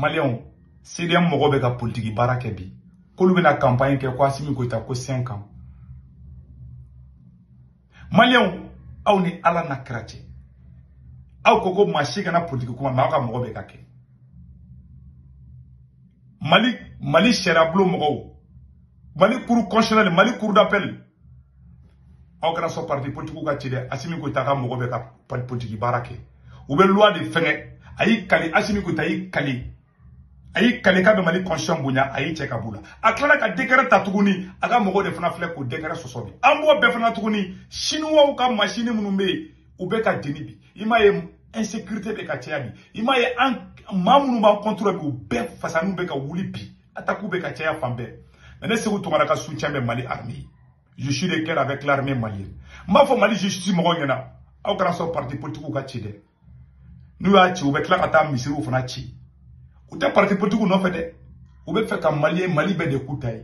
maliyɛnw cdm mɔgɔ bɛ ka politiki baara kɛ bi k'olu bɛna kanpaɲi kɛ ko asimi goyita ko cinq ans maliyɛnw aw ni ala n'a kira cɛ aw ko ko maa si kana politiki kuma mais aw ka mɔgɔ bɛ k'a kɛ mali mali sariyabulon mɔgɔw mali cour constitutionnelle mali cour d'appel aw kana sɔn parti politikiw ka ci dɛ asimi goyita ka mɔgɔ bɛ ka politiki baara kɛ u bɛ loi de fɛngɛ a y'i kali asimi goyita y'i kali a y'i kali k'a bɛ mali constitution bonya a y'i cɛ ka b'u la a tilala ka décret ta tuguni a ka mɔgɔw de fana filɛ k'o décret sɔsɔ bi an b'o bɛɛ fana tuguni sinuwaw ka masini minnu bɛ yen u bɛ ka jeni bi i m'a ye insécurité bɛ ka caya bi i m'a ye maa minnu b'an contre bi u bɛɛ fasaniw bɛ ka wuli bi Attaque bɛ ka caya fan bɛɛ. Mais ne Seku Tunkara ka soutien bɛ Mali armée. Je suis de cœur avec l'armée malienne. N b'a fɔ Mali justice mɔgɔw ɲɛna aw kana sɔn parti politique ka ci dɛ. N'u y'a ci u bɛ tila ka taa misiriw fana ci. U tɛ parti politique nɔfɛ dɛ. U b'a fɛ ka Mali Mali bɛɛ de k'u ta ye.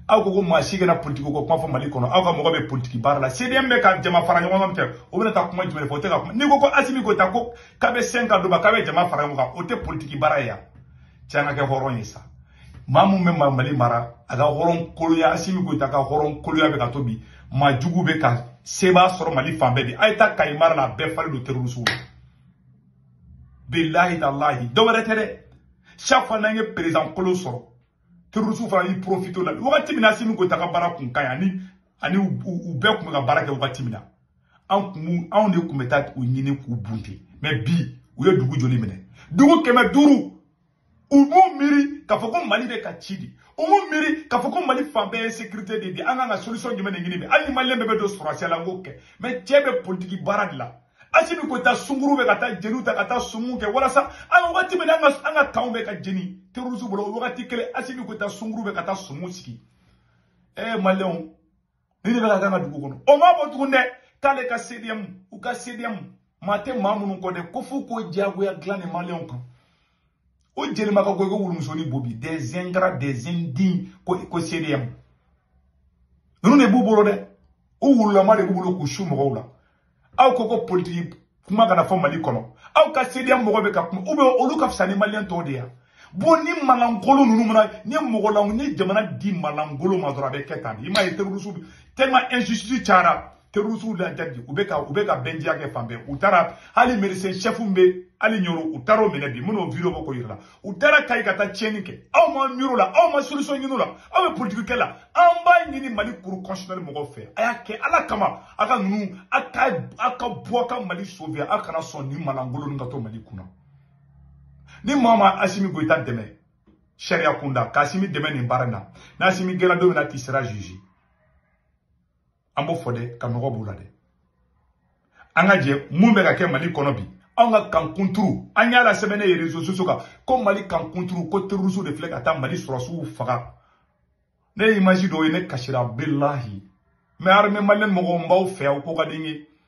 aw ko ko maa si kana politiki ko kuma fɔ mali kɔnɔ aw ka mɔgɔ bɛ politiki baara la cdm bɛ ka jama fara ɲɔgɔn kan kɛ o bɛna taa kuma jumɛn fɔ o tɛ ka kuma n'i ko ko asimi goyita ko k'a bɛ cinq ans d'a ma k'a bɛ jama fara ɲɔgɔn kan o tɛ politiki baara ye ya cɛ an ka kɛ hɔrɔn ye sa maa mun bɛ mali mara a ka hɔrɔn koloya asimi goyita ka hɔrɔn koloya bɛ k'a to bi maa jugu bɛ ka seba sɔrɔ mali fan bɛɛ bi a ye taa kayi mara la a bɛɛ falen don terorisiw la bilahi talahi dɔ wɛrɛ tɛ dɛ chaque fois n'an ye perezan kolo sɔrɔ terorisiw fana y'i profite o la wagati min na asimi goyita ka baara kun ka ɲi ani ani u bɛɛ kun bɛ ka baara kɛ wagati min na an kun anw de kun bɛ taa u ɲini k'u bunte mais bi u ye dugu joli minɛ dugu kɛmɛ duuru u m'u miiri k'a fɔ ko mali bɛ ka ci bi u m'u miiri k'a fɔ ko mali fan bɛɛ ye insécurité de bi an kan ka solution jumɛn de ɲini bi hali ni maliyɛn bɛɛ bɛ don sɔrɔsiya la an k'o kɛ mais cɛ bɛ politiki baara de la asimi goyita sunguru bɛ ka taa jeliw ta ka taa sumu kɛ walasa an wagati min na an ka karw bɛ ka jeni terroriste bolo o wagati kelen asimi goyita sunguru bɛ ka taa sumu sigi ee maliyɛnw nin de bɛ ka k'an ka dugu kɔnɔ o ma bɔ tugun dɛ k'ale ka cdm u ka cdm maa tɛ maa minnu kɔ dɛ ko f'u k'o diyagoya dilan ni maliyɛnw kan o jelima ka go i ko wulumusoni bo bi des ingrats des indignes ko ko cdm ninnu de b'u bolo dɛ u wululama de b'u bolo k'u su mɔgɔw la aw ko ko politiki kuma kana fɔ mali kɔnɔ aw ka cdm mɔgɔ bɛ ka kuma u bɛ olu ka fisa ni maliyɛn tɔw de ya bon ni maa lankolon ninnu mana ni mɔgɔ la ni jamana di maa lankolon ma dɔrɔn a bɛ kɛ tan de i m'a ye terorisiw tellement injustice cayara terorisiw la jaabi u bɛ ka u bɛ ka bandiya kɛ fan bɛɛ u taara hali médecin chef bɛ hali ɲoro u taara o minɛ bi minnu video bɔ k'o yira la u taara kayi ka taa tiɲɛni kɛ aw ma miiri o la aw ma solution ɲini o la aw bɛ politiki kɛ la an b'a ɲini mali cour constitutionnelle mɔgɔw fɛ a y'a kɛ ala kama a ka ninnu a ka a ka bɔ ka mali sauver a kana sɔn nin maa lankolon nin ka to mali kunna ni maa ma asimi goyita dɛmɛ sariya kunda ka asimi dɛmɛ nin baara in na n'asimi gɛnna don min na tu seras jugé an b'o fɔ dɛ ka nɔgɔ b'u la dɛ an ka jɛ mun bɛ ka kɛ mali kɔnɔ bi anw ka camp kunturu an y'a la sɛbɛn ne ye réseaux sociaux kan ko mali camp kunturu ko terrorisiw de filɛ ka taa mali sɔrɔsiw faga ne ye image dɔw ye ne kasira bilahi mais armée malienne mɔgɔw n b'aw fɛ aw ko ka di n ye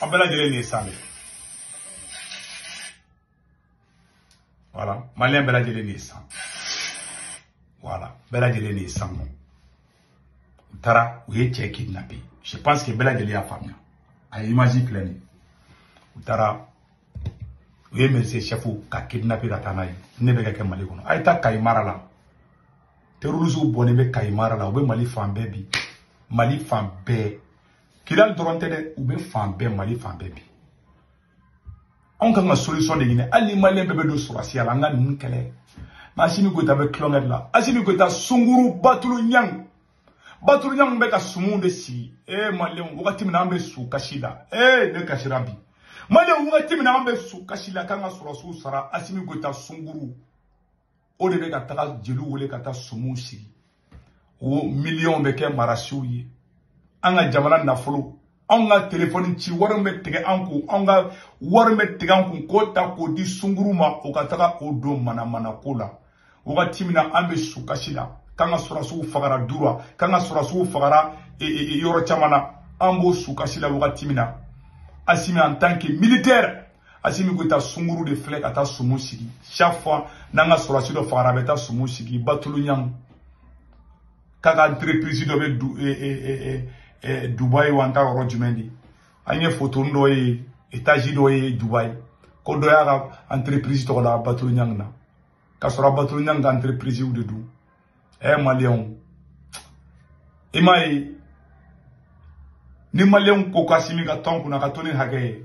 an bɛɛ lajɛlen nin ye san de voilà maliyɛn bɛɛ lajɛlen nin ye san voilà bɛɛ lajɛlen nin ye san nɔ u taara u ye cɛ kidnapper je pense que bɛɛ lajɛlen y'a faamuya a ye image filɛ nin ye u taara u ye mɛrise chef ka kidnapper ka taa n'a ye nin bɛ ka kɛ mali kɔnɔ a ye taa kayi mara la terrorisiw bɔnnen bɛ kayi mara la u bɛ mali fan bɛɛ bi mali fan bɛɛ kidali dɔrɔn tɛ dɛ u bɛ fan bɛɛ mali fan bɛɛ bi anw kan ka solution de ɲini hali ni maliyɛn bɛɛ bɛ don sɔrɔsiya la an ka ninnu kɛlɛ mais asimi goyita bɛ tulonkɛ de la asimi goyita sunguru batulu ɲangi batulu ɲangi bɛ ka sumuw de sigi ee maliyɛnw wagati min na an bɛ su kasi la ee ne kasira bi maliyɛnw wagati min na an bɛ su kasi la k'an ka sɔrɔsiw sara asimi goyita sunguru o de bɛ ka taga jeliw wele ka taa sumuw sigi o miliyɔnw bɛ kɛ marasiw ye an ka jamana nafolo anw ka telefɔni ci wari bɛ tigɛ an kun anw ka wari bɛ tigɛ an kun k'o ta k'o di sunguru ma o ka taga o don manamanako la wagati min na an bɛ sukasi la k'an ka sɔrɔsiw fagara dura k'an ka sɔrɔsiw fagara e, e, e, yɔrɔ caman na an b'o sukasi la wagati min na asimi en tant que militaire asimi k'o ta sunguru de filɛ ka taa sumu sigi chaque fois n'an ka sɔrɔsi dɔ fagara a bɛ taa sumu sigi batulu ɲangi k'a ka entreprise dɔ bɛ du eh, eh, eh, dubayi wa n t'a yɔrɔ jumɛn de an ye fotoni dɔ ye etazi dɔ ye dubayi ko dɔ y'a ka entreprise tɔgɔ la batulu ɲangi na k'a sɔrɔ batulu ɲangi ka entreprise de don ɛ maliyɛnw i m'a ye ni maliyɛnw ko k'asimi ka to an kunna ka to ni hakɛ ye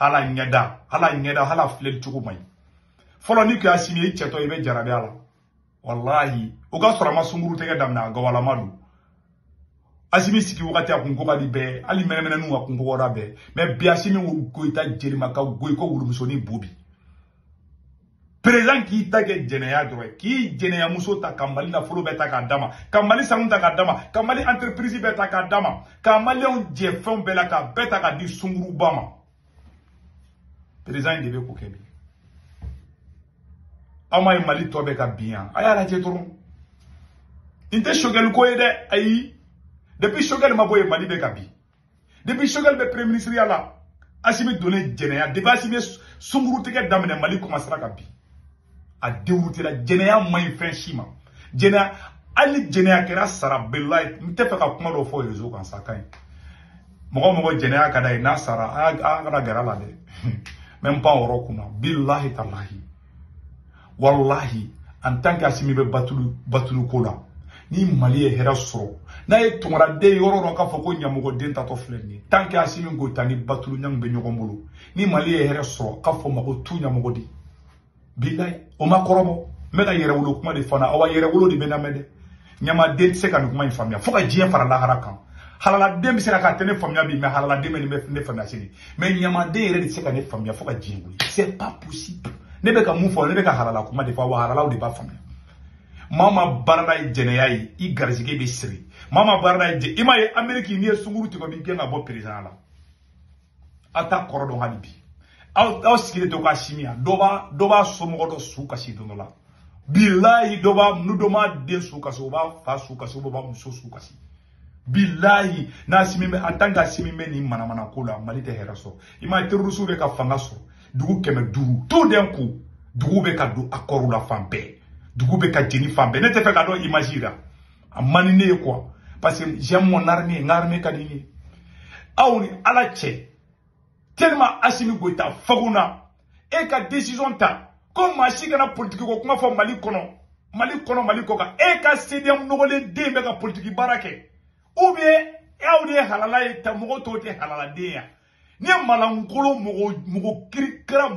hal'a ɲɛda hal'a ɲɛda hal'a filɛli cogo man ɲi fɔlɔ n'i k'asimi ye i cɛtɔ i bɛ jarabi a la walahi o k'a sɔrɔ a ma sunguru tɛgɛ daminɛ a gawalama don asimi sigi wagati a kun ko ka di bɛɛ hali mɛnɛmɛnɛninw ka kun kɔgɔra bɛɛ mais bi asimi goyita jelima ka go i ko wulumusonin bo bi perezan k'i ta kɛ jɛnɛya dɔrɔn ye k'i jɛnɛya muso ta ka mali nafolo bɛɛ ta k'a d'a ma ka mali sanu ta k'a d'a ma ka mali entreprise bɛɛ ta k'a d'a ma ka maliyɛnw jɛ fɛnw bɛɛ la k'a bɛɛ ta k'a di sunguruba ma perezan in de bɛ k'o kɛ bi aw m'a ye mali tɔ bɛ ka bin yan a y'a lajɛ dɔrɔn nin tɛ Choguel ko ye dɛ ayi depuis Choguel ma bɔ yen mali bɛ ka bin depuis Choguel bɛ premier ministre ya la Asimi donnen jɛnɛya depuis Asimi sunkuru tigɛ daminɛ Mali commencera ka bin a déroutéla jɛnɛya man ɲi fɛn si ma jɛnɛya hali ni jɛnɛya kɛra sara bilahi n tɛ fɛ ka kuma dɔ fɔ rezo kan sa ka ɲi mɔgɔ mɔgɔ jɛnɛya ka d'a ye n'a sara a kana gɛrɛ a la dɛ même pas yɔrɔ kunna bilahi talahi walahi en tant que asimi bɛ batulu batulu ko la ni mali ye hɛrɛ sɔrɔ n'a ye tunkaraden yɔrɔ dɔ k'a fɔ ko ɲamɔgɔden taatɔ filɛ nin ye tant que asimi goyita ni batulu niane bɛ ɲɔgɔn bolo ni mali ye hɛrɛ sɔrɔ k'a fɔ n ma ko tu ɲamɔgɔden bilayi o ma kɔrɔbɔ n bɛ ka yɛrɛwolo kuma de fana awa yɛrɛwolo de bɛ n lamɛn dɛ ɲamaden tɛ se ka nin kuma in faamuya fo ka diɲɛ fara lahara kan halaladen bɛ se k'a tɛ ne faamuya bi mais halaladen bɛna ne faamuya sini mais ɲamaden yɛrɛ de tɛ se ka ne faamuya fo ka diɲɛ wuli c'est pas possible ne bɛ ka mun fɔ ne bɛ ka halala kuma de fɔ wa halalaw de b'a faamuya maa maa baarada ye jɛnɛya ye i garisɛgɛ bɛ siri maa maa baarada ye jɛ i m'a ye ameriki n'i ye sunkuru tigɛ u b'i gɛn ka bɔ perezan la aw t'a kɔrɔ dɔn hali bi aw aw sigilen to k'asimi yan dɔ b'a dɔ b'a somɔgɔ dɔ su kasi don dɔ la bilayi dɔ b'a nu dɔ b'a den su kasi o b'a fa su kasi o b'a muso su kasi bilayi n'asimi bɛ en tant que asimi bɛ nin manamana ko la mali tɛ hɛrɛ sɔrɔ i m'a ye terorisiw bɛ ka fanga sɔrɔ dugu kɛmɛ duuru to den ko dugu bɛ ka don accord la fan bɛɛ dugu bɛ ka jeni fan bɛɛ ne tɛ fɛ ka don image la a man di ne ye quoi parce que j'aime mon armée n ka armée ka di ne ye aw ni ala cɛ tellement asimi goyita fagunna e ka décision ta ko maa si kana politiki ko kuma fɔ mali kɔnɔ mali kɔnɔ mali kɔkan e ka cdm nɔgɔlen de bɛ ka politiki baara kɛ ou bien aw de ye halala ye ta mɔgɔ tɔw tɛ halala den ya n'i ye maalankolon mɔgɔ kirikara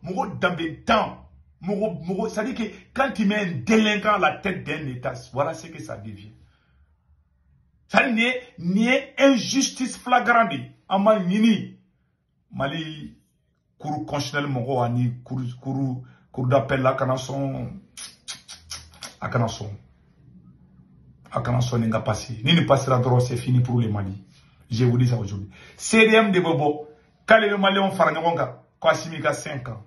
mɔgɔ danbetan mɔgɔ c'est à dire que quand tu mets un délinquant à la tête d'un état voilà ce que ça devient ça nin ye nin ye injustice flagrante de ye an b'a ɲini mali cour constitutionnelle mɔgɔw ani cour cour cour d'appel la kana sɔn a kana sɔn a kana sɔn nin ka pasi ni nin pasira dɔrɔn c'est fini pour le mali je vous dis ça aujourd'hui cdm de bɛ bɔ k'ale bɛ maliyɛnw fara ɲɔgɔn kan ko asimi ka 5 ans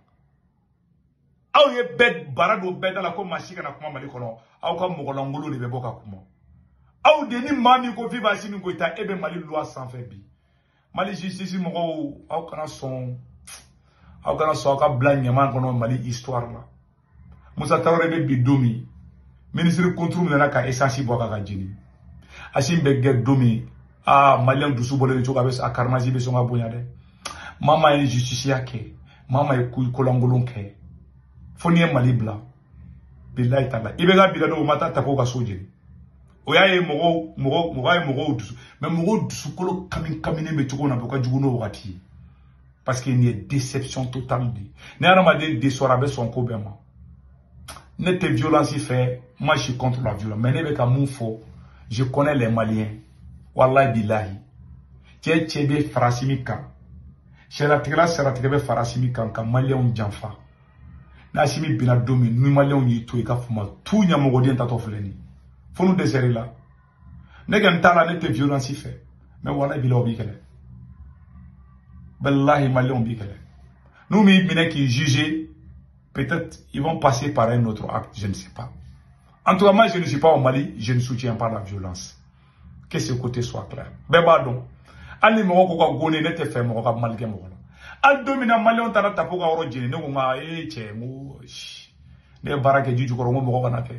aw ye bɛɛ bara don bɛɛ da la ko maa si kana kuma mali kɔnɔ aw ka mɔgɔlankolon de bɛ bɔ ka kuma aw de ni maa min ko viva asimi goyita e bɛ mali luwa sanfɛ bi mali justice mɔgɔw aw kana sɔn aw kana sɔn aw ka bila ɲaman kɔnɔ mali histoire la musa tarawele bɛ bin don min minisiri konturu minɛna ka esansi bɔn k'a ka jeni asimi bɛ gɛn don min aa maliyɛn dusu bɔlen de cogo a bɛ a karimasi bɛ sɔn ka bonya dɛ maa maa ye justisiya kɛ maa maa ye ko lankolon kɛ fo n'i ye mali bila bilayi tala IBK binna don u ma taa tapo ka so jeni o y'a ye mɔgɔw mɔgɔ mɔgɔ ye mɔgɔw dusu mais mɔgɔw dusukolo kami kaminen bɛ cogo na bi o ka jugu n'o wagati ye parce que nin ye déception totale de ye ni hadamaden desɔra a bɛ sɔn ko bɛɛ ma ne tɛ violence fɛ moi je suis contre la violence mais ne bɛ ka mun fɔ je connais les maliens walayi bilahi cɛ cɛ bɛ farasi min kan sariyatigɛla sariyatigɛ bɛ farasi min kan ka maliyɛnw janfa n'asimi binna don min ni maliyɛnw y'i to i k'a fɔ matu ɲamɔgɔden taatɔ filɛ nin fo n'u dɛsɛr'i la ne kɛni t'a la ne tɛ violence fɛ mais walahi bilahi u b'i kɛlɛ walahi maliyɛnw b'i kɛlɛ n'u m'i minɛ k'i juge peut-être ils vont passer par un autre acte je ne sais pas en tout cas moi je ne suis pas au Mali je ne soutiens pas la violence que ce côté soit clair bɛɛ b'a dɔn hali mɔgɔ ko ka go ne ye ne t'a fɛ mɔgɔ ka mal kɛ mɔgɔ la hali don min na maliyɛnw taara tapo ka yɔrɔ jeni ne ko nka ee cɛ n ko ne ye baara kɛ ji jukɔrɔ n ko mɔgɔ kana kɛ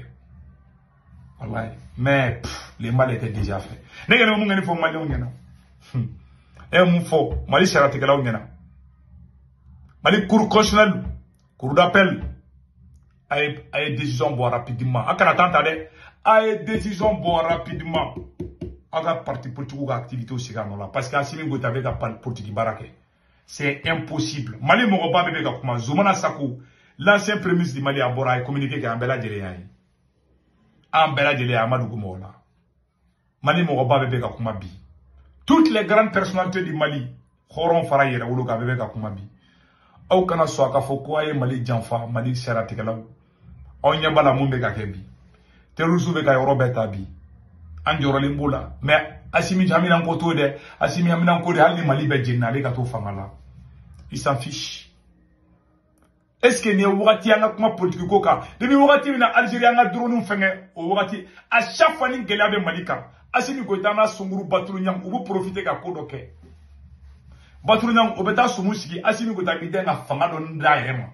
walayi mais le mal était déjà fait ne kɛni mun kɛni fɔ maliyɛnw ɲɛna e mun fɔ mali sariyatigɛlaw ɲɛna mali cour constitutionnelle cour d'appel a ye a ye décision bɔ rapidement a kana temps ta dɛ a ye décision bɔ rapidement aw ka parti politigiw ka activité sigi a nɔ la parce que Assimi Goïta bɛ ka politiki baara kɛ c'est impossible Mali mɔgɔba bɛɛ bɛ ka kuma Zumana Sako l'ancien premier ministre du Mali a bɔra a ye communiqué kɛ an bɛɛ lajɛlen y'a ye an bɛɛ lajɛlen y'a mɛn dugu mɔgɔ la mali mɔgɔba bɛɛ bɛ ka kuma bi toutes les grandes personnalités du mali hɔrɔn fara yɛrɛwolo kan a bɛɛ bɛ ka kuma bi aw kana sɔn a ka fɔ ko a ye mali janfa mali sariyatigɛlaw aw ɲɛ b'a la mun bɛ ka kɛ bi terrorisiw bɛ ka yɔrɔ bɛɛ ta bi an jɔrɔlen b'o la mais asimi haminanko t'o dɛ asimi haminanko de hali ni mali bɛɛ jenina ale ka to fanga la il s'en fiche est ce que nin ye wagati an ka kuma politiki ko kan ni bɛ wagati min na alizeri an ka dronew fɛnkɛ o wagati à chaque fois ni gɛlɛya bɛ mali kan asimi goyita n'a sungurun batuli ɲang u bɛ profite ka ko dɔ kɛ batuli ɲang o bɛ taa sumu sigi asimi goyita b'i dɛn ka fanga dɔ d'a yɛrɛ ma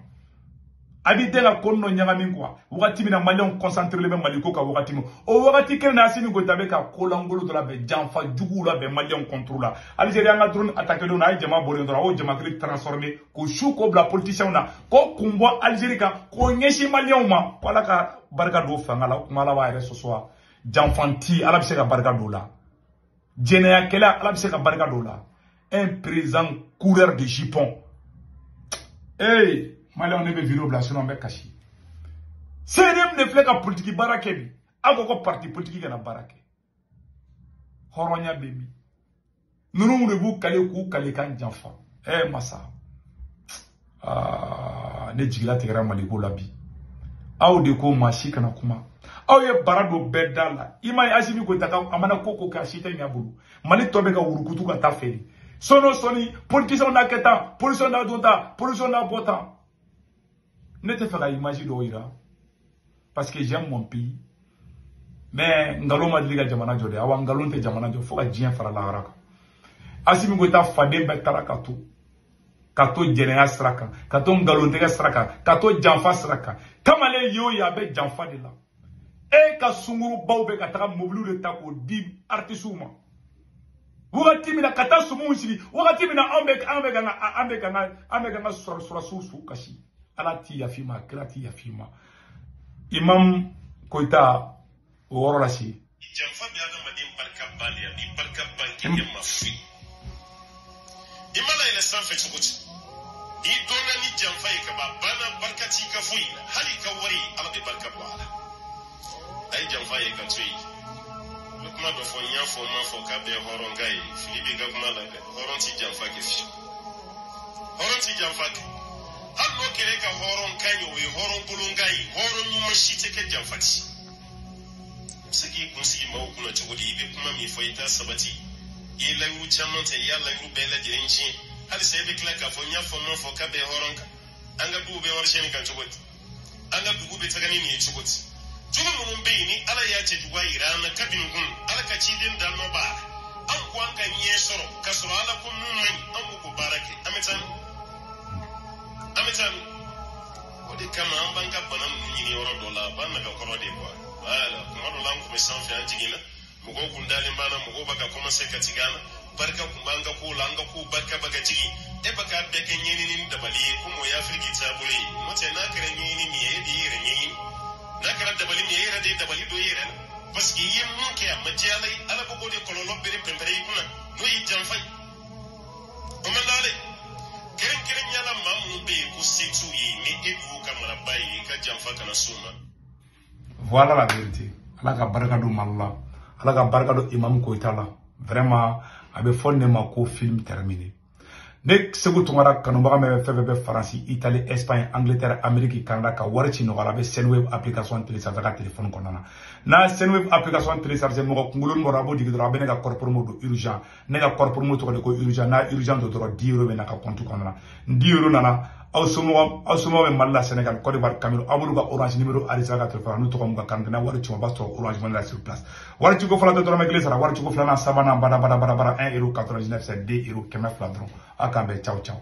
a b'i dɛn ka ko dɔ ɲagami quoi wagati min na maliyɛnw kɔnsanterelen bɛ mali ko kan wagati min o wagati kelen na asimi goyita bɛ ka ko lankolon dɔ labɛn janfa juguw labɛn maliyɛnw kɔntoro la alizeri an ka drone atake don na a ye jama bɔlen dɔrɔn a y'o jamakulu transforme ko su ko bila politiciens na ko kun bɔ Algérie kan ko ɲɛsin maliyɛnw ma ko ala ka barika don fanga la kuma ala b'a yɛrɛ sɔsɔ wa janfanti ala bɛ se ka barika don a la jɛnɛyakɛla ala bɛ se ka barika don a la un président coureur de jupon ee maliyɛnw ne bɛ video bila sinon n bɛ kasi CDM de filɛ ka politiki baara kɛ bi aw ko ko parti politiki kana baara kɛ hɔrɔnya bɛ min ninnu de b'u kali k'u kalikan janfa ɛ masa aa ne jigilatigɛra mali ko la bi aw de ko maa si kana kuma aw ye bara don bɛɛ da la i ma ye asimi goyita a mana ko o ko kɛ a si tɛ ɲɛ a bolo mali tɔ bɛ ka wurukutu ka taa feere sɔni o sɔni politisiyɛnw n'a kɛ tan politisiyɛn n'a don tan politisiyɛn n'a bɔ tan ne t'a fɛ ka image dɔw yira parce que j'aime mon pays mais nkalon ma deli ka jamana jɔ dɛ awa nkalon tɛ jamana jɔ fo ka diɲɛ fara lahara kan asimi goyita faden bɛɛ taara k'a to k'a to jɛnɛya sira kan k'a to nkalontigɛ sira kan k'a to janfa sira kan kamalen ye o ye a bɛ janfa de la e ka sungurubaw bɛ ka taga mobiliw de ta k'o di artisiw ma wagati min na ka taa sumuw sigi wagati min na anw bɛ k'an ka sɔrɔdasiw su kasi ala tɛ yafa i ma kira tɛ yafa i ma imam koyita o yɔrɔ lase janfa bɛ adamaden barika bali a b'i barika ban k'i yɛlɛma fu ye i mana yɛlɛ sanfɛ cogo di n'i dɔnna ni janfa ye ka ban a banna barika t'i ka foyi la hali i ka wari ala bɛ barika bɔ a la a ye janfa ye k'a to yen n bɛ kuma dɔ fɔ n y'a fɔ n m'a fɔ k'a bɛɛ hɔrɔn kan ye fili b'i ka kuma la dɛ hɔrɔn tɛ janfa kɛ fiyewu hɔrɔn tɛ janfa kɛ hali n'o kɛra e ka hɔrɔn kan ye o ye hɔrɔn kolon kan ye hɔrɔn ɲuman si t'a kɛ janfanti se k'i kun sigi maaw kunna cogo di i bɛ kuma min fɔ i t'a sabati i ye layiru caman ta i y'a layiru bɛɛ lajɛlen tiɲɛ halisa e bɛ tila k'a fɔ n y'a fɔ n m'a fɔ k'a bɛɛ hɔrɔn kan an ka dugu bɛ warisiyɛnni kan cogo di an ka dugu bɛ taga ni nin ye cogo di jugu minnu bɛ yen ni ala y'a cɛjuguya jira an na kabini kun ala ka ciden da nɔ b'a la an ko an ka ɲɛ sɔrɔ k'a sɔrɔ ala ko mun man ɲi an bɛ k'o baara kɛ an bɛ taa min an bɛ taa min o de kama an b'an ka bana ninnu ɲini yɔrɔ dɔ la a b'an naga kɔrɔ de kuwa wala kuma dɔ la an kun bɛ sanfɛ an jiginna mɔgɔw kun dalen b'an na mɔgɔw b'a ka kɔmanse ka tigɛ an na barika kun b'an ka kow la an ka kow barika b'a ka jigin e b'a k'a bɛɛ kɛ ɲɛɲini ni dabali ye komi o ye afiriki taabolo ye n'o tɛ n'a kɛra ɲɛɲini min ye e de y'i yɛrɛ ɲɛɲini n'a kɛra dabali min ye e yɛrɛ de ye dabali don i yɛrɛ la paseke i ye mun kɛ a ma diya ala ye ala b'o de kɔlɔlɔ bere pɛnpɛrɛ i kunna n'o ye janfa ye Omalale, kɛrɛnkɛrɛnnya la maa minnu bɛ yen ko se t'u ye ni e b'u ka maraba ye i ka janfa kana s'u ma. Voilà la vérité. Ala ka barika don Mali la. Ala ka barika don Imam Koyita la. Vraiment, a bɛ fɔ ne ma ko film terminé. Ne Seku Tunkara kanubaga min fɛn fɛn bɛ Faransi, Italie, Espagne, Angleterre, Amérique, Canada ka wari ci nɔgɔya la, a bɛ Sendwave application télécharger ka téléphone kɔnɔna na. N'a ye Sendwave application télécharger mɔgɔ kunkolo bɔra a b'o digi dɔrɔn a bɛ ne ka code promo don urgent. ne ka code promo tɔgɔ de ko urgent n'a urgent don dɔrɔn 10 euro bɛ na ka compte kɔnɔna na ni 10 euro nana aw somɔgɔ aw somɔgɔ bɛ mali la senegal cote d'ivoire cameroun aw b'olu ka orange numéro arisa ka telefɔni n'u tɔgɔ mun ka carte n'a wari ci u ma u b'a sɔrɔ orange money la sur place wari ciko fɔlɔ tɛ dɔrɔmɛ kelen sara wari ciko filanan sabanan bada bada bada bada 1 euro 99 c'est 2 euro kɛmɛ fila dɔrɔn aw k'an bɛn ciao ciao